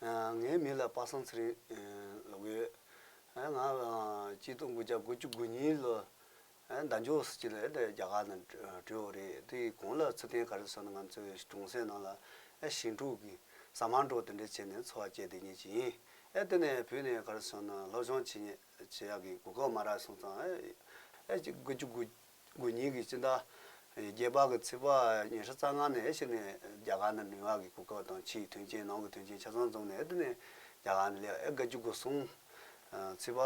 ངའི་མིང་ལ་པ་སངས་ཚེ་རིང་ལོག་ཡོད། ང་སྐྱིད་སྡུག་དགུ་བརྒྱ་དགུ་བཅུ་དགུ་གཉིས་ལོ་ཟླ་མཇུག་ཟེར་གྱི་རེད་དེ་རྒྱ་གར་ནང་བྲོས་བོ་རེད་དེ་གོང་ལ་ཚུལ་བསྟན་ག་རེ་བཟོས་ན་ང་ཚོའི་གྲོང་གསེབ་ནང་ལ་ཞིང་འཕྲུག་གི་ཟ་མར་འགྲོ་དེ་འདྲས་བྱས་ནས་འཚོ་བ་སྐྱེལ་དེ་ཉིད་ཀྱི་ཡིན། དེ་ནས་བུད་ནས་ག་རེ་བཟོས་ན་སློབ་སྦྱོང་བྱེད་ཉེས་བྱེད་ཡག་གི་གོ་སྐབས་མ་རག་སོང་ཙང། དགུ་བཅུ་དགུ་དགོན་རྙིང་གི་སྤྱི་ཟླ་བརྒྱད་པ་གི་ཚེས་པ་ཉེར་ཤུ་རྩ་ལྔ་ནས་ཕྱིར་ནས་རྒྱ་གར་ནང་མི་མང་གི་གོ་སྐབས་དང་ཕྱིའི་དོན་རྐྱེན་ནང་གི་དོན་རྐྱེན་ཆ་ཚང་འཛོམས་ནས་དེ་ནས་རྒྱ་གར་ནས་སླེབས་སྐབས་དགའ་སྐྱིད་སྒོ་གསུམ། ཚེས་པ།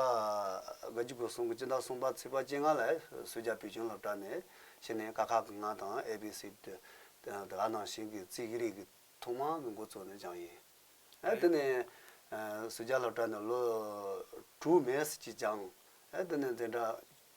དགའ་སྐྱིད་སྒོ་གསུམ་གྱི་སྤྱི་ཟླ་གསུམ་པ་ཚེས་པ་བཅད་ལྔ་ལ་སུས་རྒྱ་བོད་ཆོས་ལྷག་དྲག་ནས་ཕྱིར་ནས་ཀ་ཁ་གི་ང་དང་ཨེ་བྷི་སི། དེ་ག་ནང་བཞིན་གྱི་རྩིས་ཀྱི་རིགས་ཀྱི་ཐོག་མ་གི་འགོ་གཙོ་ནི་འཇང་ཡིན། དེ་ནས། སུས་རྒྱ་ལྷག་དྲག་ནས་ལོ། དྲུག་མེས་སི་ཅི་འཇང། དེ་ནས་འཛིན་གྲྭ།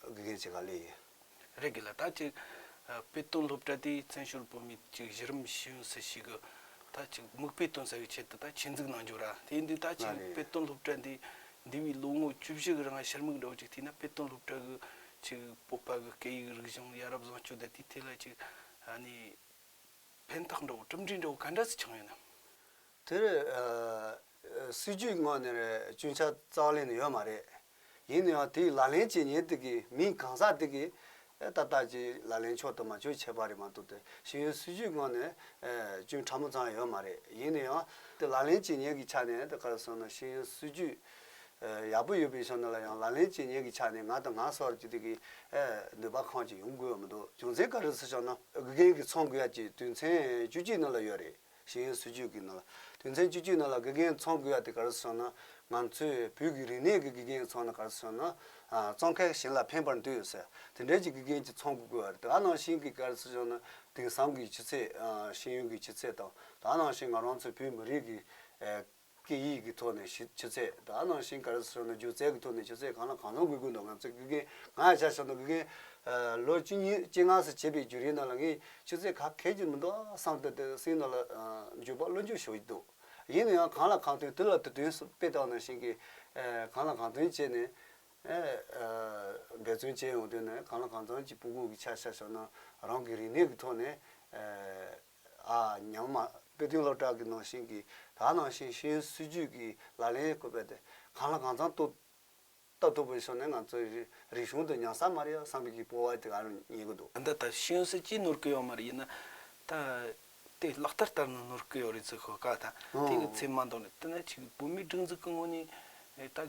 དགེ་རྒན་བྱེད་ག་ལེ་ཡིན། རེད་གི་ལ་ད་ཅིག་དཔེ་སྟོན་སློབ་གྲྭ་དེའི་བཙན་བྱོལ་བོད་མི་གཅིག་གཞི་རིམ་ཤེས་ཡོན་སུ་ཞིག་གི་ད་ཅིག་མིག་དཔེ་སྟོན་ཟེར་བའི་ཆེད་དུ་ད་ཆེད་འཛུགས་གནང་རྒྱུ་ར་དེ་ཡིན་དུས་ད་ཅིག་དཔེ་སྟོན་སློབ་གྲྭ་འདི་འདི་བའི་ལོ་ངོ་བཅུ་བཞི་གི་རིང་ཕྱིར་མིག་འགྲོ་ཅིག་བལྟས་ན་དཔེ་སྟོན་སློབ་གྲྭ་གི་ཅིག་སྤོབས་པ་གི་སྐད་ཡིག་རིག་གཞུང་ཡ་རབས་བཟང་སྤྱོད་དེ་དེའི་ཐད་ལ་ཅིག་ནི་ཕན་ཐོགས་འདྲ་བོ་གྲུབ་འབྲས་འདྲ་བོ་ག་འདྲ་ཟིག་བྱུང་ཡོད་ནམ། དེར་སྲིད་ཇུས་ངོས་ནས་སྐྱོན་ཆ་རྩ་བ་ལེན་ནི་ཡོད་མ་རེད། ཡིན་ནའང་དེའི་ལག་ལེན་བྱེད་ཉེས་དེ་གིས་མི་གང་ཟག་དེ་གིས་ཨེ་ཏག་ཏག་ཅིག་ལག་ལེན་ཆོག་དང་མ་ཆོག་བྱས་པ་རེད་མ་གཏོགས་ཏེ་ཤེས་ཡོན་སྲིད་ཇུས་ངོས་ནས་སྐྱོན་ཕྲ་མོ་ཙམ་ཡང་ཡོད་མ་རེད། ཡིན་ནའང་དེ་ལག་ལེན་བྱེད་ཉེས་ཀྱི་ཆ་ནས་ད་གར་སོང་ན་ཤེས་ཡོན་སྲིད་ཇུས་ཡག་པོ་ཡོད་པའི་ཆ་ནས་ལ་ཡང་ལག་ལེན་བྱེད་ཉེས་ཀྱི་ཆ་ནས་ང་དང་ང་སོར་ཅིག་དེ་གིས་ནུས་པ་གང་ཅིག་ཡོང་དགོས་ཡོད་མ་གཏོགས་རྒྱུ་མཚན་ག་རེ་སུ་བྱུང་ན་དགེ་རྒན་གྱི་ཚོང་དགོས་ཡ་ཅིག་དུས་མཚན་བཅུ་གཅིག་ནང་ལ་ཡོད་རེད། ཤེས་ཡོན་སྲིད་ཇུས་ཀྱི་ནང་ལ་དོན་ཚན་བཅུ་བཅུའི་ནང་ལ་དགེ་རྒན་ཚོང་དགོས་ཡ་དེ་ག་རེ་སོང་ན་ང་ཚོས་བོད་ཀྱི་རིག་གནས་ཀྱི་དགེ་རྒན་ཚོང་ན་ག་རེ་སོང་ན་ཙོང་ཁ་གཞན་ལ་ཕན་པར་འདོད་ཡོད་ས་དེ་འདྲའི་ཀྱི་དགེ་རྒན་གྱི་ཚོང་དགོས་དགོས་ཡ་རེད་ད་ནང་བཞིན་གྱི་ག་རེ་སོང་ན་དེང་སང་གི་ཆུ་ཚད་ཤེས་ཡོན་གྱི་ཆུ་ཚད་དང་ད་ནང་བཞིན་ང་རང་ཚོ་བོད་མི་རིགས་ཀྱི། སྐད་ཡིག་གི་ཐོག་ནས་ཆུ་ཚད་དང་ནང་བཞིན་གར་སོང་ན་སྒྱུ་རྩལ་གྱི་ཐོག་ནས་ཆུ་ཚད་གང་ལ་གང་འཚམ་དགོས་ཀྱི་འདུག་ང་ཚོས་དགེ་རྒན་ང་ཡང་བྱ་ཆོག་འདུག་དགེ་རྒན། ལོ་གཅིག་གཉིས་གཅིག་ངང་སུ་བྱས་པའི་བརྒྱུད་རིམ་ནང་ལ་ངས་ཆུ་ཚད་ག་གལ་གྱི་མི་འདུག་བསམ་སྟེ་དེ་སེམས་ནང་ལ་འཇུག་པ་བློ་འཇུག་ཞུ་ཡི་འདུག་ཡིན་ན་ཡང་གང་ལ་གང་ཐོན་དུས་ལ་དུས་དོན་སུ་དཔེ་དང་ནང་བཞིན་གྱི། གང་ལ་གང་ཐོན་བྱས་ནས། འབད་བརྩོན་བྱས་ཡོང་དུས་ནས་གང་ལ་གང་འཚམ་གྱི་སྤུ་སྒུག་གི་ཆ་བྱ་ཆོག་ནང་རང་གི་རིག་གནས་ཀྱི་ཐོག་ནས། ཉང་མ་དཔེ་སྟོན་སློབ་གྲྭ་གི་ནང་བཞིན་གྱི་དག་སྣང་ཞིང་ཞེན་སྲིད་ཇུས་ཀྱི་ལག་ལེན་བཀོད་པ་དེ་གང་ལ་གང་ཚང་གཏོད་ལྟ་ཐུབ་པའི་ཕྱོགས་ནས་ང་ཚོའི་རིག་གཞུང་དུ་ཉང་སཱ་མ་རི་ཡ་བསམ་གྱིས་སྤོ་བ་དེ་ག་རང་ཉན་གི་འདུག། འདི་ལྟར་ཞོན་སྲིད་ཀྱིས་ནོར་གི་ཡོད་མ་རེད་ཡིན་ན། ད་དེ་ལག་བསྟར་བསྟར་ནས་ནོར་གི་ཡོད་རེད་ཟེར་ཤོག་ག་དང་དེ་གི་ཚེ་མ་འདང་ནས་དེ་ནས་ཆིག་བུད་མེད་སྒྲིག་འཛུགས་ཀྱི་ངོས་ནས་ད་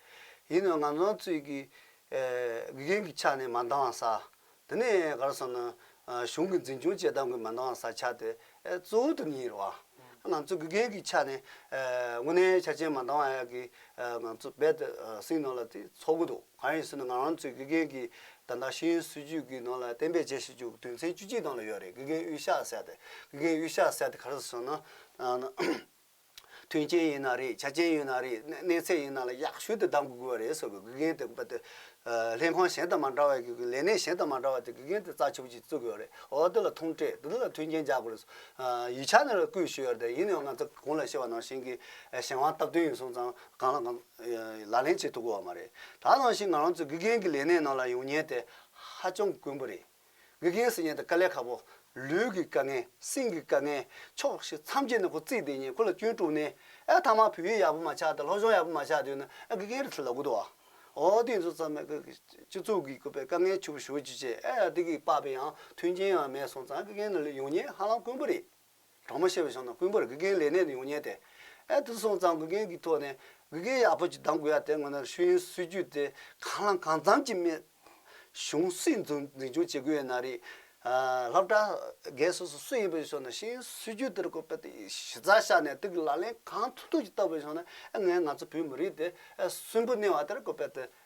ཡིན་ནའང་ང་ཚོའི་ཚོད་ཀྱིས་དགེ་རྒན་གྱི་ཕྱག་ནས་མ་འདང་བ་ས། དེ་ནས་ག་རེ་སོང་ན། གཞུང་གི་འཛིན་སྐྱོང་བཅས་གདམ་གྱིས་མ་འདང་བ་ས་ཆགས་ཏེ་གཙོ་བོ་དེ་གཉིས་རེད་བ། ང་ཚོ་དགེ་རྒན་གྱི་ཕྱག་ནས་དངོས་གནས་ཆ་རྐྱེན་མ་འདང་བ་ཡག་གིས་ང་ཚོ་རྦད་དེ་སེམས་ནང་ལ་དེ་ཚོར་གྱི་འདུག་གང་ཡིན་ཟེར་ན་ང་རང་ཚོའི་དགེ་རྒན་གྱི་ད་ལྟ་ཤེས་ཡོན་སྲིད་བྱུས་ཀྱི་ནང་ལ་གཏན་འབེབས་བྱེད་བཞིན་བཅུག་དོན་ཚན་བཅུ་གཅིག་དང་ལ་ཡོད་རེད་དགེ་རྒན་དབུས་ཤག་ཟེར་ཏེ་དགེ་རྒན་དབུས་ཤག་ཟེར་ཏེ་ག་རེ་ཟེར་ན། མཐུན་རྐྱེན་ཡིན་ན་རེད་ཆ་རྐྱེན་ཡོད་ན་རེད་གནས་ཚད་ཡིན་ན་ལ་ཡག་ཤོས་དེ་གདམ་དགོས་དགོས་པ་རེད་ཟེར་བའི་དགེ་རྒན་དེ་པདྨ་ལྷན་ཁང་གཞན་དང་མ་འདྲ་བའི་ལས་གནས་གཞན་དང་མ་འདྲ་བ་དེ་དགེ་རྒན་དེ་རྩ་ཆེ་པོ་ཅིག་བཙུགས་ཡོད་རེད་འོ་དེ་ལ་ཐུང་སྤྲད་དེ་དེ་ལ་མཐུན་རྐྱེན་རྒྱག་དགོས་རེད་སོང་ཡིག་ཆ་ནས་ལ་བསྐུལ་ཞུས་ཡོད་རེད་ཡིན་ནའང་ང་ཚོ་གང་ལ་ཤེས་བ་ནང་བཞིན་གྱི་གཞན་དབང་སྟབས་བསྟུན་ཡིན་སོང་ཙང་གང་ལ་གང་ལག་ལེན་བྱེད་ཐུབ་དགོས་བ་མ་རེད་ད་ནང་བཞིན་ང་རང་ཚོ་དགེ་རྒན་གྱི་ལས་གནས་ནང་ལ་ཡོང་ཉེན་དེ་ཧ་ཅང་དཀོན་པོ་རེད། དགེ་རྒན་སྲིད་ཉན་དང་དཀའ་ལས་ཁག་པོ། ལུས་ཀྱི་དཀའ་ངལ། སེམས་ཀྱི་དཀའ་ངལ། ཆོག་ཤེས་མཚམས་ཆད་ནས་ཁོ་རྩིས་བསྡད་ཉིན་ཁོ་ལ་སྐྱོན་དཀྲུགས་ནས། ཨེ་ཐ་མ་བོད་ཡིག་ཡག་པོ་མ་ཆགས་དང་སློབ་སྦྱོང་ཡག་པོ་མ་ཆགས་དུས་ན་ཨེ་དགེ་རྒན་རེད་ཚུར་ལབ་དགོས་འདུག་ཨ། འོ་དེ་ཚོ་ཙམ་མེད་ཀི། སྤྱི་ཚོགས་ཀྱི་བཀོད་པའི་དཀའ་ངལ་ཆེ་པོ་ཞུ་རྒྱུ་བཅས་ཨེ་ཡ་དེ་གི་དཔག་པའི་ཡང་མཐུན་རྐྱེན་ཡང་མེད་སོང་ཙང་ཨེ་དགེ་རྒན་ནི་ལོས་ཡོང་ཉེན་ཧ་ལམ་དཀོན་པོ་རེད། གྲོགས་མོ་ཤེས་པའི་ཞང་དང་དཔོན་པོར་དགེ་རྒན་ལས་གནས་ནས་ཡོང་ཉེན་ཏེ། ཨེ་དེ་སོང་ཙང་དགེ་རྒན་གྱི་ཐོག་ནས་དགེ་རྒན་ཡག་པོ་ཅིག་གདམ་དགོས་ཡ་དེ་སྔོན་ནར་ཤུལ་ཡོན་སྲིད་བྱུས་དེ་གང་ལ་གང་འཚམ་གྱིས་སྨད། གཞུང་སྲིད་འཛིན་སྐྱོང་བྱེད་དགོས་ཡོད་ན་རེད། ལྷ་བྲག་རྒན་སོ་སོ་སུ་ཡིན་པའི་ཞོར་ན་ཤེས་ཡོན་སྲིད་བྱུས་དེར་ཁོ་པས་གཞི་རྩ་བཞག་ནས་དེ་གི་ལག་ལེན་གང་ཐུབ་ཐུབ་ཀྱིས་བཏབ་པའི་ཞོར་ན་ཨེ་ངས་ང་ཚོ་བོད་མི་རིགས་དེ་ཨེ་གསོན་པོ་གནས་བ་དེར་ཁོ་པས་དེ་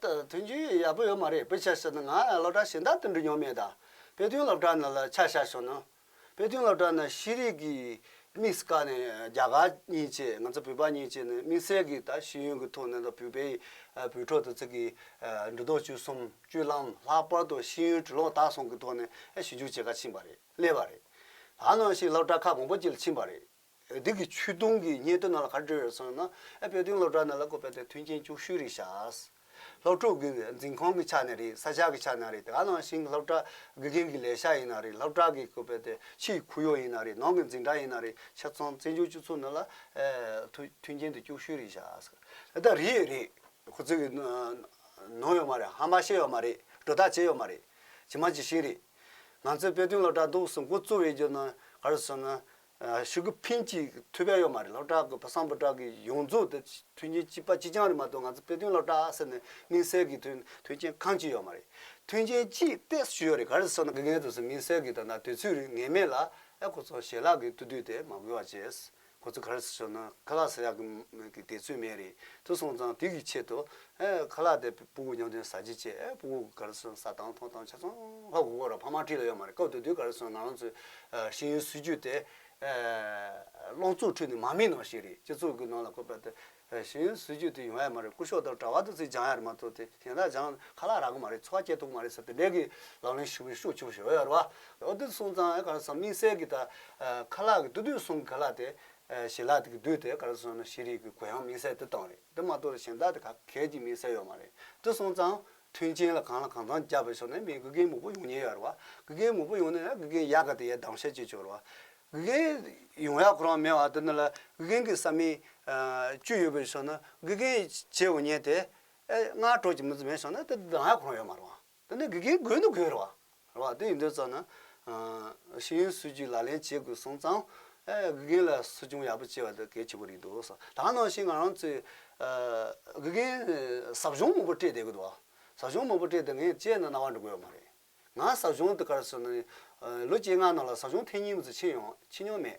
དོན་རྒྱུ་ཡག་པོ་ཡོད་མ་རེད་བོད་ཆས་ཟེར་ན་ང་སློབ་གྲྭ་གཞན་དག་ཏུ་འགྲིག་མྱོང་མེད་ད་དཔེ་སྟོན་སློབ་གྲྭ་ནང་ལ་ཆ་བཞག་བྱུང་ན་དཔེ་སྟོན་སློབ་གྲྭ་ནང་ཤེས་རིག་གི་དམིགས་བཀར་ནས་རྒྱ་གར་གཉིས་བཅས་ང་ཚོ་བོད་པ་གཉིས་བཅས་ནས་དམིགས་བསལ་གྱི་ད་ཤེས་ཡོན་གྱི་ཐོག་ནས་ད་བོད་པའི་བོད་ཕྲུག་ད་ཚིག་གི་འབྲི་རྡོག་བཅུ་གསུམ་བཅུ་ལམ་ལྷག་པར་དུ་ཤེས་ཡོན་གྲི་ལོག་དག་སོང་གི་ཐོག་ནས་ཞིབ་འཇུག་བྱེད་ཁ་ཕྱིན་པ་རེད་སླེབས་པ་རེད་ད་ནང་བཞིན་སློབ་གྲྭ་ཁག་མང་པོ་བཅས་ལ་ཕྱིན་པ་རེད། བོད་ཐུག་གི་ཆུ་དུང་གི་སྙན་ཐོ་ནང་ལ་ག་རེ་བྲོས་ཡོད་སོང་ན། ཨ་བོད་ཐུག་སློབ་གྲྭ་ནང་ལ་བཀོད་པའི་དེ་མཐུན་རྐྱེན་བཅུ་བཞི་རེ་བཞག། སློབ་ཕྲུག་གི་འཛིན་ཁང་གི་ཆ་ནས་རེད་ས་ཆ་གི་ཆ་ནང་རེད་དེ་ག་ནང་བཞིན་སློབ་གྲྭ་དགེ་རྒན་གྱི་ལས་ཤག་ཡིན་ན་རེད་སློབ་གྲྭ་གི་བཀོད་པའི་དེ་ཕྱིའི་ཁུར་ཡོག་ཡིན་ན་རེད་ནང་གི་འཛིན་གྲྭ་ཡིན་ན་རེད་ཆ་ཚང་བཙན་བྱོལ་སྤྱི་ཚོགས་ནང་ལ་མཐུན་རྐྱེན་དེ་བཅུ་བཞི་རེ་བཞག་ད་ལྟ་རེད་རེད། ཁོ་ཚོས་གི་ནོར་ཡོད་མ་རེད་ཧམ་པ་བཤད་ཡོད་མ་རེད་སྒྲོ་བཏགས་བྱས་ཡོད་མ་རེད་ཇི་མ་ཇི་བཞིན་རེད། ང་ཚོས་བོད་ཐུག་སློབ་གྲྭ་གདུགས་སུ་འགོ་བཙུགས་ཡོད་རྒྱུ་ནི་ག་རེ་སོང་ན། ཞུ་གི་ཕིན་གྱིས་ཐུགས་ཕན་ཡོད་མ་རེད་ལགས་བཀྲ་གི་བསམ་པ་བཀྲ་གི་ཡོངས་རྫོགས་དེ་མཐུན་རྐྱེན་གཅིག་པ་གཅིག་རྐྱང་རེད་མ་གཏོགས་ང་ཚོ་དཔེ་སྟོན་ལགས་བཀྲ་ཟེར་ནས་མིང་གསལ་གྱི་དོན་མཐུན་རྐྱེན་གང་གཅིག་ཡོད་མ་རེད་མཐུན་རྐྱེན་གཅིག་དཔེ་ཞུ་ཡོད་རེད་ག་རེ་སོགས་ན་དགེ་རྒན་དུ་སོང་མིང་གསལ་གྱི་དོན་དང་དུས་ཚོད་རིང་ངེས་མེད་ལ་ཨེ་ཁོ་ཚོ་ཞལ་ལག་གི་ཏུ་དུས་དེ་མ་དགོས་བ་བྱས་ཁོ་ཚོ་ག་རེ་སོགས་ན་ཁ་ལག་ཟེར་ཡག་གི་མེད་གི་དེ་ཚོད་མེད་རེད་དུ་སོང་ཙང་དུས་ཀྱི་ཆེད་དུ་ཨེ་ཁ་ལག་དེ་སྤུ་མགོ་མྱང་དོན་ཟ་བྱེད་ཅེས་ཨེ་སྤུ་མགོ་གི་ག་རེ་སོན་ཟ་དང་འཐུང་དང་ཆ་ཚང་ཧ་གོ་གོ་ར་ཕ་མར་དྲིས་ལ་ཡོད་མ་རེད་སྐབས་དེ་དུས་ག་རེ་སོན་ང་རང་ཚོའི་ཤེས་ཡོན་སྲིད་བྱུས་དེ་སློང་ཚུགས་ཁྲོད་ནས་མ་སྨིན་ནང་ཞིག་རེད་སྤྱི་ཚོགས་ཀྱི་ནང་ལ་བཀོད་པ་དེ་ཤེས་ཡོན་སྲིད་བྱུས་དེ་ཡོང་ཡ་མ་རེད་སྐུ་ཞོགས་དང་གྲྭ་བ་དང་ཚིག་སྦྱང་ཡ་རེད་མ་གཏོགས་དེ་གཞན་དག་སྦྱང་ཁ་ལག་རག་གི་མ་རེད་འཚོ་བ་སྐྱེལ་ཐུབ་ཀྱི་མ་རེད་ཟེར་དེ་འདྲས་ཀྱི་ལག་ལེན་ཞུ་བའི་ཤུགས་ཆེ་པོ་ཞིག་ཡོད་ཡ་རེད་བ། ཨོ་དེ་སོང་ཙང་ཨེ་ག་རེ་སོན་དམིགས་བསལ་གྱི་ད་ཁ་ལག་གི་དུས་དུས་སོང་གི་ཁ་ལག་དེ་ཞེ་ལག་དེ་གི་དུས་དེ་ག་རེ་སོན་ན་ཤེས་རིག་གི་གོ་ཡང་དམིགས་བསལ་དེ་བཏང་རེད། འདི་མ་གཏོགས་ལ་གཞན་དག་དེ་ག་གལ་གྱི་མིན་གསལ་ཡོད་མ་རེད་དེ་སོང་ཙང། མཐུན་རྐྱེན་ལ་གང་ལ་གང་ཚང་རྒྱབ་པའི་ཕྱོགས་ནས་མིའི་དགུ་རྒན་མོ་པོ་ཡོང་ཉེན་ཡོད་རེད་བ། དགུ་རྒན་མོ་པོ་ཡོང་ནས་ན་དགུ་རྒན་ཡག་ག་དེ་ཡས་སྡང་ཤ་གཅིག་བྱོས་རེད་བ། དགུ་རྒན་ཡོང་ཡག་ཁོ་རང་མེད་བ་དེ་ནི་ལ་དགུ་རྒན་གི་བསམ་མིན། བཅུ་ཡོད་པའི་ཕྱོགས་ནི་དགུ་རྒན་བྱས་ཡོང་ཉེན་དེ། ཨེ་སྔར་གྲོགས་ཀྱི་མི་ཚེ་མེད་སོང་ན་དེ་སྡང་ཡག་ཁོ་རང་ཡོད་མ་རེད་བ། འདི་ནི་དགེ་རྒན་དགོས་ནི་དགོས་རེད། རེད་དེ་ཡིན་དོན་ཙམ་ན། ཤེས་ཡོན་སྲིད་བྱུས་ལག་ལེན་བྱེད་དགོས་སོང་ཙང། དགེ་རྒན་ལ་སྲིད་སྐྱོང་ཡག་པོ་བྱེད་པ་དེ་གལ་ཆེན་པོ་རེད་འདུག་ཟེར། ད་ནང་བཞིན་ང་རང་ཚོས། དགེ་རྒན་ཟབ་སྦྱོང་མང་པོ་སྤྲད་བསྡད་གི་འདུག་ཟབ་སྦྱོང་མང་པོ་སྤྲད་དེ་ངས་དཔྱད་ན་རྣ་བ་འདྲུ་དགོས་པ་མ་རེད། ང་ཟབ་སྦྱོང་དེ་གར་སོན་ནས། ལོ་བཅོ་ལྔ་ནང་ལ་ཟབ་སྦྱོང་ཐེངས་གཉིས་མ་ཚོད་ཕྱིན་ཡོང་ཕྱིན་མྱོང་མེད།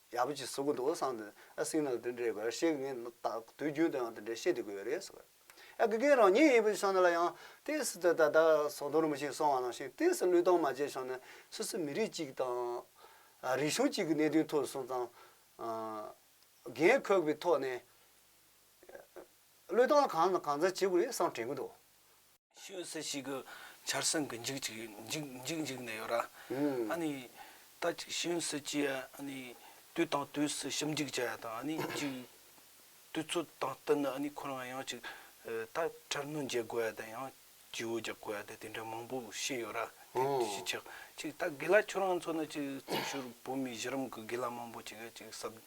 ཡག་པོ་གྱིས་ཟུག་གི་འདུག་ཨ་སང་དེ་ཨ་སིང་ནང་དེ་འདྲའི་གར་ཤེས་ངས་ད་དུས་རྒྱུན་དུ་ཡང་དེ་འདྲའི་བཤད་དུ་དགོས་ཡོད་རེད་ཟེར། ཨ་དགེ་རྒན་རང་ཉིད་ཡིན་པའི་ཆ་ནས་ལ་ཡང་ཏིས་སི་ཏི་ད་ལྟ་ཟོག་རྡོ་རིང་མོ་ཞིག་སོང་བ་ནང་བཞིན་ཏིས་སི་བློས་གཏོང་མ་བྱས་ཆོག་ནས་སུད་སི་མི་རིགས་གཅིག་དང། རིག་གཞུང་གཅིག་གི་གནད་དོན་ཐོག་སོང་ཙང། རྒན་ཁོག་པའི་ཐོག་ནས། བློས་གཏོང་གང་དང་གང་འཚམ་བྱེད་དགོས་རེད་བསམ་དྲན་གི་འདུག། ཤི་བའི་སྲས་ཤིག་གི་ཆར་སྲང་གི་འཇིགས་ཅིག་འཇིགས་འཇིགས་ནས་ཡོད་ར། ཨ་ནི། ད་ཅིག་ཤི་བའི་སྲས་ཀྱིས་ཨ་ནི། དུས་དང་དུས་སུ་ཞིབ་འཇུག་བྱ་ཡ་དང་ཨ་ནི་ཅིག། དུས་ཚོད་དང་བསྟུན་ནས་ཨ་ནི་ཁོ་རང་ཡང་ཅིག། ད་འཕྲལ་གནོད་འཇལ་དགོས་ཡ་དང་ཡང་ཇིའུ་རྒྱག་དགོས་ཡ་དེ་དེ་འདྲ་མང་པོ་ཤི་ཡོད་ར། དེ་ཅིག། ཅིག་ད་དགེ་ལ་ཁྱོད་རང་ཚོ་ནི་ཅིག་རྩིག་ཤོར་བོད་མི་གཞི་རིམ་གི་དགེ་ལ་མང་པོ་ཅིག་ཡ་ཅིག་གསབ།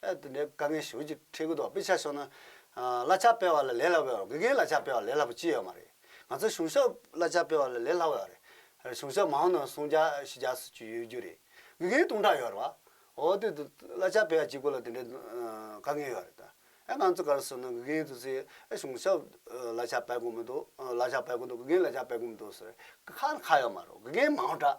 ཨ་དེ་འདྲའི་དཀའ་ངལ་ཞུ་ཅིག་ཁྲེལ་གི་འདུག་དཔེ་ཆ་ཤོར་ན། ཨ་གླ་ཆ་སྤེལ་བ་ལ་ལས་སླ་བའི་དགེ་རྒན་གླ་ཆ་སྤེལ་བ་ལས་སླ་པོ་ཅི་ཡོད་མ་རེད། ང་ཚོ་གཞུང་ཤོག་གླ་ཆ་སྤེལ་བ་ལ་ལས་སླ་བའི་རེད། གཞུང་ཤོག་མང་ནང་སུང་བརྒྱ་བཞི་བརྒྱ་སུ་བཅུ་ཡོད་རྒྱུ་རེད། དགེ་རྒན་སྟོང་ཕྲག་ཡོད་རེད་བ། ཨོ་དེ་དུ་གླ་ཆ་སྤེལ་བ་གཅིག་པུ་ལ་དེ་འདྲའི་དཀའ་ངལ་ཡོད་རེད་ད། ཨ་ང་ཚོ་གར་སོང་ན་དགེ་རྒན་དུ་ཚོས་ཨ་གཞུང་ཤོག་གླ་ཆ་སྤེལ་དགོས་མི་འདུག་གླ་ཆ་སྤེལ་དགོས་འདུག་དགེ་རྒན་གླ་ཆ་སྤེལ་དགོས་མི་འདུག་ཟེར་བའི་ཁ་ཁ་ཡོད་མ་རེད། དགེ་རྒན་མང་དྲགས།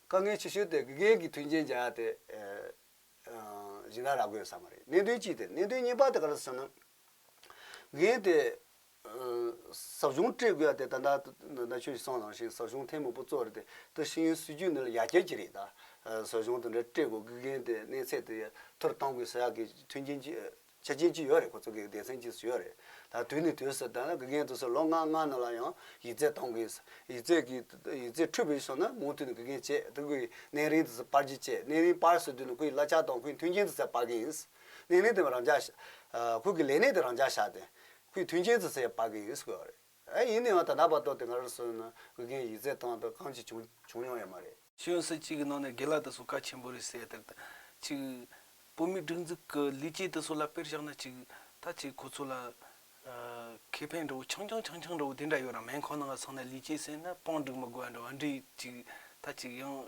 དཀའ་ངལ་ཆེ་ཤོས་དེ་དགེ་རྒན་གྱི་མཐུན་རྐྱེན་འཇལ་ཡག་དེ། གཞན་དག་རག་དགོས་ཡོད་ས་མ་རེད་གནད་དོན་གཅིག་དེ་གནད་དོན་གཉིས་པ་དེ་ག་རེད་ཟེར་ན། དགེ་རྒན་དེ། ཟབ་གཞུང་སྤྲད་དགོས་ཡ་དེ་ད་ནངས་ན་ཆུང་ཞིག་སང་ལངས་ཤིང་ཟབ་གཞུང་ཐེངས་མང་པོ་བཙོ་རེད་དེ་ད་ཤེས་ཡོན་སྲིད་ཇུས་ནི་ལ་ཡ་ཁྱད་ཅི་རེད་ད། ཟབ་གཞུང་དེ་འདྲ་སྤྲད་དགོས་དགེ་རྒན་དེ་གནས་ཚད་དེ་མཐོ་རུ་གཏང་དགོས་ཟེར་ཡག་གི་མཐུན་རྐྱེན་ཅི། བྱེད་ཀྱིན་ཅི་ཡོད་རེད་ཁོ་ཚོ་དགེ་རྒན་སེམས་ཀྱིས་སུ་ཡོད་རེད་ད་དུས་ནས་དུས་སུ་དང་དགེ་རྒན་དུ་སུ་ལོ་ལྔ་ལྔ་ནང་ལ་ཡང་ཡིག་རྩལ་གཏོང་དགོས་ཡིག་རྩལ་གྱི་ཡིག་རྩལ་འཁྲུལ་བའི་སོ་ན་མུ་མཐུད་ནས་དགེ་རྒན་བྱེད་དུ་དགོས་གནས་རིང་དུ་སུ་སྤར་རྒྱུ་བྱེད་གནས་རིང་སྤར་སུ་དུས་ནས་ཁོ་ཡི་གླ་ཆ་དང་ཁོའི་མཐུན་རྐྱེན་དུ་སུ་སྤར་གི་ཡིན་གནས་རིང་དེ་བས་རང་འཇགས་ཁོ་གི་ལས་གནས་དེ་རང་འཇགས་བྱ་སྟེ་ཁོའི་མཐུན་རྐྱེན་དུ་སུ་སྤར་གི་ཡིན་དགོས་པ་རེད། ཨེ་ཡིན་ནའང་ད་ལྟ་བར་དོ་དེ་གར་སོན་ན་དབུས་རྒན་ཡིག་རྩལ་སྟངས་དང་གང་ཅི་བྱུང་བྱུང་ཡོང་ཡ་མ་རེད། གཞོན་སུ་གཅིག་གི་ནང་ནས་དགེ་ལགས་དེ་ཚོ་བཀའ་ཆེན་པོ་རེད་ཟེར་ཡ་དེ་གཅིག། བོད་མིའི་སྒྲིག་འཛུགས་ཀྱི་ལས་བྱེད་དེ་ཚོ་ལ་དཔེར་བཞག་ན་གཅིག། ད་གཅིག་ཁོ་ཚོ་ལ། ཁེ་ཕན་འདྲ་བོ་ཆང་ཆང་ཆང་ཆང་འདྲ་བོ་དེ་འདྲ་ཡོད་རང་མལ་ཁང་ནང་ང་ཚང་ནས་ལས་བྱེད་ཟེར་ན་པང་བསྒྲིགས་མི་དགོས་ཡ་འདྲ་བ་འདྲ་གཅིག། ད་གཅིག་ཡང།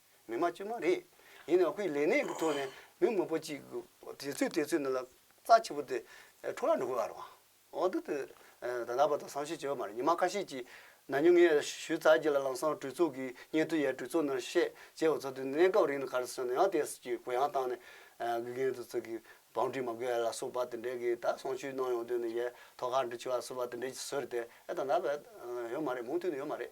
མི་དམངས་དཀྱུས་མ་རེད། ཡིན་ནའང་ཁོས་ལས་གནས་ཀྱི་ཐོག་ནས་མི་མང་པོ་གཅིག་དེ་ཚོའི་དེ་ཚོའི་ནང་ལ་རྩ་ཆེ་པོ་དེ་འཕྲོ་བརླག་འགྲོ་གི་ཡོད་པ་རང་འོག་ཏུ་དེ་ད་ལྟ་བར་དུ་བསམ་ཤེས་བྱས་པ་མ་རེད་ཉི་མ་ཁ་ཤས་ཀྱིས་ན་ཉུང་ངེས་ཞུས་ཚར་རྗེས་ལ་ལམ་སང་གྲོས་ཚོགས་ཀྱི་སྙན་ཐོ་ཡང་གྲོས་ཚོགས་ནང་བཤད་རྗེས་བ་ཚོ་དེ་གནས་སྐབས་རིང་ལ་ག་རེ་བྱས་ནའང་དེ་སྲིད་ཀྱི་གུ་ཡངས་བཏང་ནས་དགེ་རྒན་དེ་ཚོ་གི་བང་སྒྲིག་མ་དགོས་ལ་སོགས་པ་དེ་འདྲའི་གི་ད་གསང་ཆོས་གནང་ཡོང་དོན་ནི་ཡས་ཐོག་ཁར་འདྲི་ཆུ་བ་སོགས་པ་དེ་འདྲའི་ཟོས་རེད་དེ་ད་ལྟ་བར་ཡོད་མ་རེད་མུ་མཐུད་ནས་ཡོད་མ་རེད།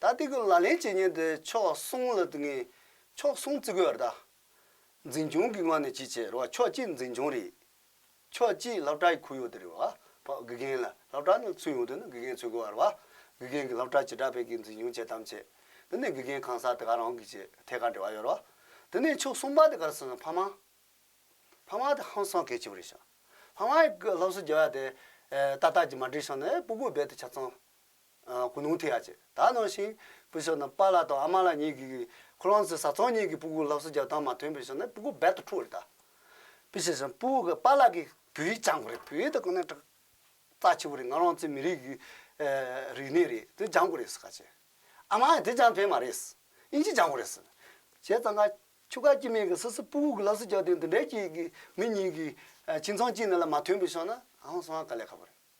ད་ལྟའི་གི་ལག་ལེན་བྱེད་མཁན་དེ་ཕྱོགས་གསུམ་ལ་དུ་ངས་ཕྱོགས་གསུམ་བརྩི་དགོས་ར་ད། འཛིན་སྐྱོང་གི་ངོས་ནས་བྱེད་བྱེད་ར་བ་ཕྱོགས་གཅིག་འཛིན་སྐྱོང་རེད། ཕྱོགས་གཅིག་སློབ་གྲྭའི་ཁུར་ཡོད་དེ་རེད་བ་ཕ་དགེ་རྒན་ལ་སློབ་གྲྭ་ནས་ཚུད་ཡོང་དུས་ན་དགེ་རྒན་ཚུད་དགོས་བ་ར་བ། དགེ་རྒན་གི་སློབ་གྲྭ་ཇི་འདྲ་བས་གི་འཛིན་སྐྱོང་བྱེད་དམ་བྱེད། དེ་ནས་དགེ་རྒན་གང་ཟག་དེ་ག་རང་གི་བྱེད་ཐད་ཀར་འབྲེལ་བ་ཡོད་ར་བ། དེ་ནས་ཕྱོགས་གསུམ་པ་དེ་ག་ར་སོང་ན་ཕ་མ། ཕ་མ་དེ་ཧང་སང་གལ་ཆེ་བ་རེད་ཤག། ཕ་མ་ཡི་གི་སློབ་གསོ་བྱེད་བ་དེ། ཏག་ཏག་ཅིག་མ་འགྲིག་ཤག་ན་ཨེ་སྤུ་གུ་རྦད་དེ་ཆ་ཚང། ཀུན་སློང་ཐེག་ཡ་བཅས་དག་གནང་ཞིང། སྤུས་ཚད་རྣམས་པཱ་ལགས་དང་ཨ་མ་ལགས་གཉིས་ཀྱིས་ཁོ་རང་ཚོའི་བཟའ་ཚང་གཉིས་ཀྱི་སྤུ་གུར་སླབ་གསོ་རྒྱག་སྟངས་མ་ཐོན་པའི་ཕྱིར་ན་སྤུ་གུར་རྦད་དུ་འཁྲུ་བ་རེད་ད། སྤུས་ཚད་ཟེར་ན་སྤུ་གུར་པཱ་ལགས་ཀྱི་བོད་ཡིག་སྦྱང་དགོས་རེད་བོད་ཡིག་དེ་ཁོ་ནའི་རྩ་ཆེ་བོ་རེད་ང་རང་ཚོའི་མི་རིགས་ཀྱི་རིག་གནས་རེད་དེ་སྦྱང་དགོས་རེད་ཟེར་ཁ་ཆེ། ཨ་མ་ཨ་དེ་སྦྱང་ཕན་མ་རེད། དབྱིན་ཇི་སྦྱང་དགོས་རེད་ཟེར། བྱས་ཙང་ཁ་ཆུ་ཁ་སྐྱིད་མེད་ཀི་སོ་སོའི་སྤུ་གུར་གྱི་སླབ་གསོ་རྒྱག་དུས་འདི་འདྲའི་སྐྱིད་ཀྱི་མི་གཉིས་ཀྱི་ཁྱིམ་ཚང་གཅིག་ནང་ལ་མ་ཐོན་པའི་ཕྱིར་ན་ཨང་སང་ཨ་ག་ལས་ཁ་པོ་རེད།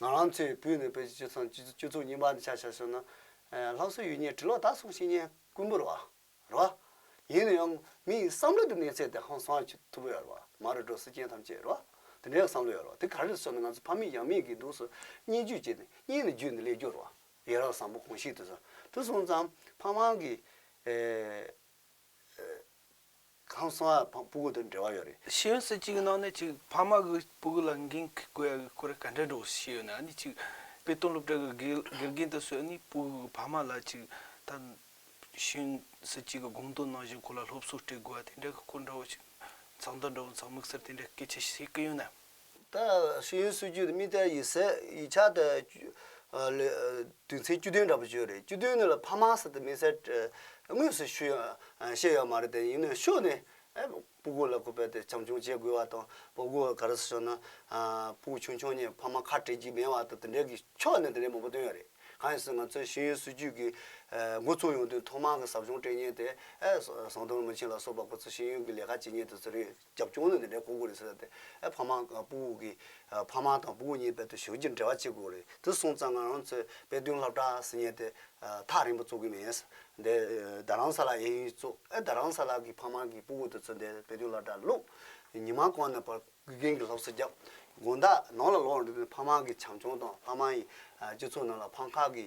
ང་རང་ཚོའི་བོད་ནས་བོད་ཀྱི་སྤྱོད་བཟང་སྤྱོད་ཚུལ་རྙིང་པ་འདི་ཆ་ཆ་ཤོད་ན། ལྷ་བཟོ་ཡུལ་ཉེ་དྲི་ལོག་ད་སོང་ཤེས་ཉེན་དཀོན་པོ་རེད་བ། རེད་བ། ཡིན་ན་ཡང་མིའི་བསམ་བློ་དེ་གནས་ཚད་དེ་ཧང་སང་བྱེད་ཐུབ་ཡོད་རེད་བ། མ་རེད་འགྲོ་སྲིད་ཅན་ཐམས་ཅད་རེད་བ། དེ་འདྲའི་བསམ་བློ་ཡོད་རེད་བ། དེ་ག་རེ་ཟོས་ན་ང་ཚོ་ཕ་མེས་ཡང་མེས་ཀྱི་གདུགས་སུ་བསྙེན་རྒྱུ་བྱས་ཏེ་བསྙེན་ནས་རྒྱུད་འདི་ལེགས་སྐྱོར་བ། ཡི་རང་བཟང་པོ་གང་ཞིག་དུ། དུ་སོང་ཙང་ཕ་མང་གི། ཁང་སོང་ཨ་ཕ་སྤུ་གུ་དང་འབྲེལ་བ་ཡོད་རེད། ཤེས་ཡོན་སྲིད་སྤྱི་གི་ནང་ནས་ཅིག་ཕ་མ་གི་སྤུ་གུ་ལ་འགན་དགོས་ཡ་གི་ཁོ་རེ་ག་འདྲ་འགྲོ་གི་ཤེས་ཡོད་ནི་ཨ་ནི་ཅིག་དཔེ་སྟོན་སློབ་གྲྭ་གི་དགེ་རྒན་དུ་སོད་ནི་སྤུ་གུ་གི་ཕ་མ་ལ་ཅིག་ད་ཤེས་ཡོན་སྲིད་སྤྱི་གི་དགོངས་དོན་ནང་བཞིན་ཁོ་ལ་སློབ་གསོ་སྤྲད་དགོས་ཡ་དེ་འདྲ་གི་ཁོ་འདྲ་བོ་ཅིག་མཚང་དང་འདྲ་བོ་མཚང་མིག་སེར་དེ་འདྲ་སྐད་ཆ་བཤད་གི་ཡོད་ནི། ཏཱ་སི་ཡོན་སུའུ་ཅུས་རྨིས་ཏཱ་ཡི་སི་ཡི་ཕྱག་ཏུ་དུས་མཚན་བཅུ་བདུན་འདྲ་པོ་བཅོལ་རེད་བཅུ་བདུན་ནི་ལ་ཕ་མ་སི་ཏི་མི་སེར་དངོས་སུ་ཤུ་བཤད་ཡོད་མ་རེད་དེ་ཡིན་ནའི་ཤོ་ནི་སྤུ་གུ་ལ་ཁུ་བས་ཏེ་བྱམས་ཆུང་བྱེད་དགོས་བ་དང་སྤུ་གུ་ག་རེ་སུ་ཤོ་ན་སྤུ་གུ་ཆུང་ཆུང་གཉིས་ཕ་མ་ཁ་བྲལ་གྱི་མེད་བ་དང་དེ་འདྲའི་གི་ཕྱོགས་ནས་དེ་འདྲའི་མང་པོ་བཏོན་ཡོད་རེད་གང་ཡིན་ཟེར་ང་ཚོའི་ཤི་ཡོན་སུའུ་ཅུས་ཀྱི་འགོ་ཚུགས་ཡོང་དུས་ཐོག་མང་གི་ཟབ་སྦྱོང་སྤྲད་ཉེན་དེ་ཟོང་དོར་མི་ཆེན་ལ་སོགས་པ་ཁོ་ཚོ་ཤེས་ཡོན་གྱི་ལས་ཀ་བྱེད་ཉེན་དུ་ཟེར་ཡོད། རྒྱབ་སྐྱོར་ནི་འདི་འདྲའི་གོང་གོ་རེད་ཟེར་ལབ་སྟེ། ཕ་མ་དང་བུ་གི། ཕ་མ་དང་བུ་གཉིས་དཔལ་དུ་ཞུགས་ཀྱི་འབྲེལ་བ་གཅིག་གོ་རེད་དེ་སོང་ཙང་ང་རང་ཚོས་དཔལ་དོན་ལྷ་བྲག་སེ་ཉལ་ཏེ། ཐག་རིང་པོ་ཙོག་གི་མེད། དེ་རྡ་རམ་ས་ལ་ཨེ་ཡིན་ཙོག་ཨེ་རྡ་རམ་ས་ལ་གི་ཕ་མ་གི་བུ་གོ་དེ་ཚོ་འདས་དཔལ་དོན་ལྷ་བྲག་ལུག། ཉི་མ་གོང་ནས་བར་དགུན་རྒན་གྱི་སློབ་གསོ་རྒྱབ། དགོན་བདག་ནང་ལ་ལོག་འགྲོ་དུས་ཕ་མ་གི་བྱམས་སྐྱོང་དང་ཕ་མ་ཡི་སྤྱི་ཚོགས་ནང་ལ་ཕ་མཁའ་གི་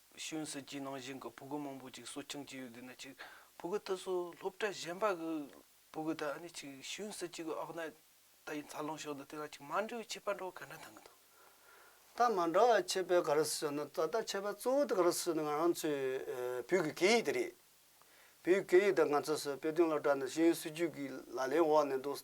ཤོན་སི་ཅིའི་ནང་བཞིན་གྱི་བུ་གུ་མང་པོ་ཅིག་གསོ་སྐྱོང་བྱས་ཡོད་འདུག་ན་ཅིག་བུ་གུ་དེ་ཚོ་སློབ་གྲྭ་གཞན་པ་གི་བུ་གུ་དང་ནི་ཅིག་ཤོན་སི་ཅི་གི་ཨོག་ནད་ད་ཡིན་འཚར་ལོངས་ཕྱོགས་འདི་དེ་ལ་ཅིག་མ་འབྲེལ་བའི་ཁྱད་པར་འགྲོ་བ་ག་འདྲ་གཏང་གི་འདུག། ད་མ་འདྲ་བའི་ཁྱད་པར་ག་རེ་ཟོས་ན་ད་ལྟ་ཁྱད་པར་གཙོ་བོ་དེ་ག་རེ་ཟོས་ན་ང་རང་ཚོའི་བོད་ཀྱི་སྐད་ཡིག་དེ་རེད། བོད་ཀྱི་སྐད་ཡིག་དེ་ང་ཚོ་སོས་དཔེ་སྟོན་སློབ་གྲྭ་ནས་ཤོན་སི་ཅུས་ཀྱི་ལག་ལེན་འོག་ནས་འདུག།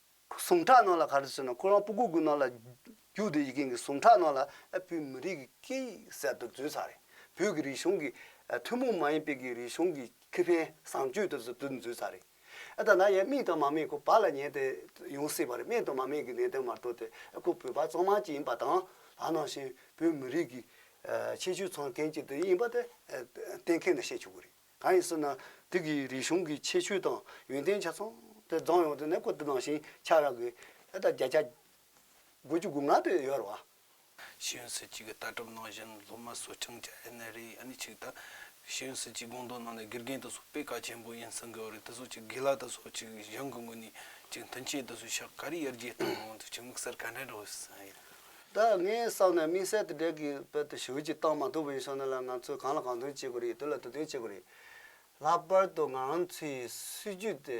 ཟུངས་ཁྲག་རྣོ་ལ་གར་དུ་སོན་ནོ་ཁོ་རང་སྤུ་གུ་དགུ་རྣོ་ལ་རྒྱུགས་དེ་ཡི་གིང་གི་ཟུངས་ཁྲག་རྣོ་ལ་བོད་མི་རིགས་ཀྱི་སྐད་ཡིག་གསལ་དུ་བརྫུས་ཚར་རེད་བོད་ཀྱི་རིག་གཞུང་གི་ཐུན་མོང་མ་ཡིན་པའི་ཀྱི་རིག་གཞུང་གི་ཁེ་ཕན་བཟང་སྤྱོད་དེ་ཚོ་བརྫུས་བརྫུས་ཚར་རེད་ད་ནངས་མིག་དང་མ་སྨད་ཁོ་བ་ལ་ཉན་དེ་ཡོང་སྲིད་པ་རེད་སྨད་དང་མ་སྨད་ཀྱི་གནད་དོན་མ་གཏོགས་དེ་ཁོ་བོད་པ་གཙང་མ་གཅིག་ཡིན་པ་དང་ལགས་ནང་བཞིན་བོད་མི་རིགས་ཀྱི་ཆེ་ཤོས་ཚང་མཁན་གཅིག་དེ་ཡིན་པ་དེ་གཏན་འཁེལ་ནས་བཤད་ཆོག་གི་རེད། གང་ཡིན་ཟེར་ན་དུས་ཀྱི་རིག་གཞུང་གི་ཁྱད་ཆོས་དང་ཡོན་ཏན་ཆ་ཚང་དེ་རྫོང་ཡོངས་དུ་གནས་སྐོར་དུ་ནང་བཞིན་ཆགས་རག་གི་ཨ་ད་བརྒྱ་ཆ་དགུ་བཅུ་དགུ་ལྔ་དེ་ཡོད་རེད་བ། ཤེས་ཡོན་སྲིད་བྱུས་ཀྱི་ལྟ་གྲུབ་ནང་བཞིན་སློབ་མ་སུ་ཆང་བཅའ་ཨེ་ནི་རེད་ཨ་ནི་ཆིག་དང། ཤེས་ཡོན་སྲིད་བྱུས་དགོངས་དོན་ནང་ནས་དགེ་རྒན་དེ་སོགས་པེ་ཀ་ཆེན་པོ་ཡིན་ཟེར་གི་ཨོ་རེད་དེ་སོགས་ཅིག་དགེ་ལགས་དེ་སོགས་ཅིག་གཞུང་གི་ངོས་ནས་ཅིག་མཐུན་ཆེད་དུ་སུ་ཤ་ཀ་རི་ཡར་རྒྱས་གཏོང་ཡོང་དུ་ཅིག་དམིགས་བསལ་ག་འདྲ་འགྲོ་ཨེ་ཟེར། ད་ངའི་བསམ་ནས་དམིགས་བསལ་དེ་འདྲའི་གི་དཔེ་དེ་ཞུ་ཅིག་བཏང་མ་ཐུབ་བོ་ཡིན་སོང་ན་ལ་ང་ཚོས་གང་ལ་གང་འདུན་བྱེད་དགོས་རེད་དེ་ལ་དུ་འདུན་བྱེད་དགོས་རེད། ལྷག་པར་དུ་ང་རང་ཚོའི་སྲིད་བྱུས་དེ་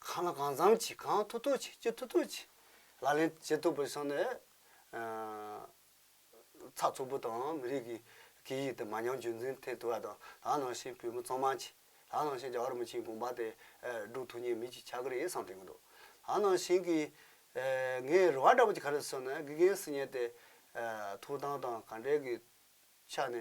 གང་ལ་གང་འཚམ་གྱིས་གང་ཐུབ་ཐུབ་གྱིས་ཅི་ཐུབ་ཐུབ་གྱིས་ལག་ལེན་བྱེད་ཐུབ་བོ་ཡིན་སོང་ནས་ཚགས་ཚུད་པོ་དང་མི་རིགས་ཀྱི་སྐད་ཡིག་དེ་མ་ཉམས་རྒྱུན་འཛིན་ཐེབས་ཐུབ་པ་དང་ད་ནང་བཞིན་བོད་མི་ཚང་མ་གྱིས། ལ་ནང་བཞིན་རྒྱ་གར་མི་ཆེན་དགོངས་པ་དེ་སྒྲུབ་ཐུབ་ཉེས་མེད་ཀྱི་ཆ་གི་ཡིན་བསམ་དོན་གྱི་འདུག་ལ་ནང་བཞིན་གྱི། ངའི་རེ་བ་འདྲ་པོ་ཅིག་ག་རེ་སོང་ན་དགེ་རྒན་སི་ཉན་དེ། ཐུགས་སྟངས་དང་ག་འདྲེ་གི་ཆ་ནས་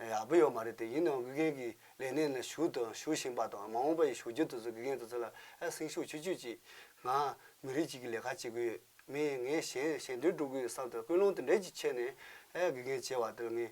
ཡག་པོ་ཡོད་མ་རེད་དེ་ཡིན་ནའང་དགེ་རྒན་གྱི་ལས་གནས་ནས་ཞུགས་དང་ཞུགས་བཞིན་པ་དང་མ་འོངས་པ་ཡི་ཞུགས་རྒྱུ་དེ་ཚོ་དགེ་རྒན་དེ་ཚོ་ལ་སེང་ཤུགས་ཆུད་ཆུད་ཅིག་ང་མི་རིགས་གཅིག་གི་ལས་ཀ་བྱེད་གི་ཡོད་མི་ངས་གཞན་གཞན་དོན་སྒྲུབ་གི་ཡོད་བསམ་དོན་ཀུན་སློང་དེ་འདྲས་ཀྱི་ཆེད་ནས་དགེ་རྒན་བྱས་བ་དེ་ལ་ངས་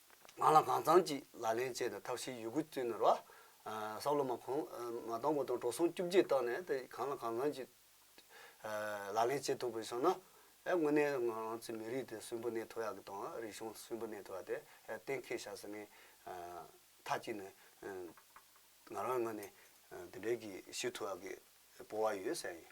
ང་ལ་གང་ཚང་གཅིག་ལག་ལེན་བྱས་ཏེ་ཐབས་ཤེས་ཡོད་རྒུ་བཙུན་ནོར་བ། སྲབ་ལོ་མ་གོང་མ་དང་པོ་དང་གྲོ་སོང་བཅུ་བརྒྱད་བཏགས་ནས་དེ་གང་ལ་གང་ཚང་གཅིག་ལག་ལེན་བྱེད་ཐུབ་དགོས་བྱུང་ན། དངོས་གནས་ང་རང་ཚོའི་མི་རིགས་དེ་སུན་པོ་གནས་ཐུབ་ཡག་གི་དང་རིག་གཞུང་སུན་པོ་གནས་ཐུབ་ཡག་དེ་གཏན་འཁེལ་བྱ་ཟེར་ནས། མཐའ་གཅིག་ནས་ང་རང་ངོས་ནས་དེ་འདྲའི་གི་ཞུ་ཐུབ་ཡག་གི་སྤོ་བ་ཡོད་ཟེར་ཡིན།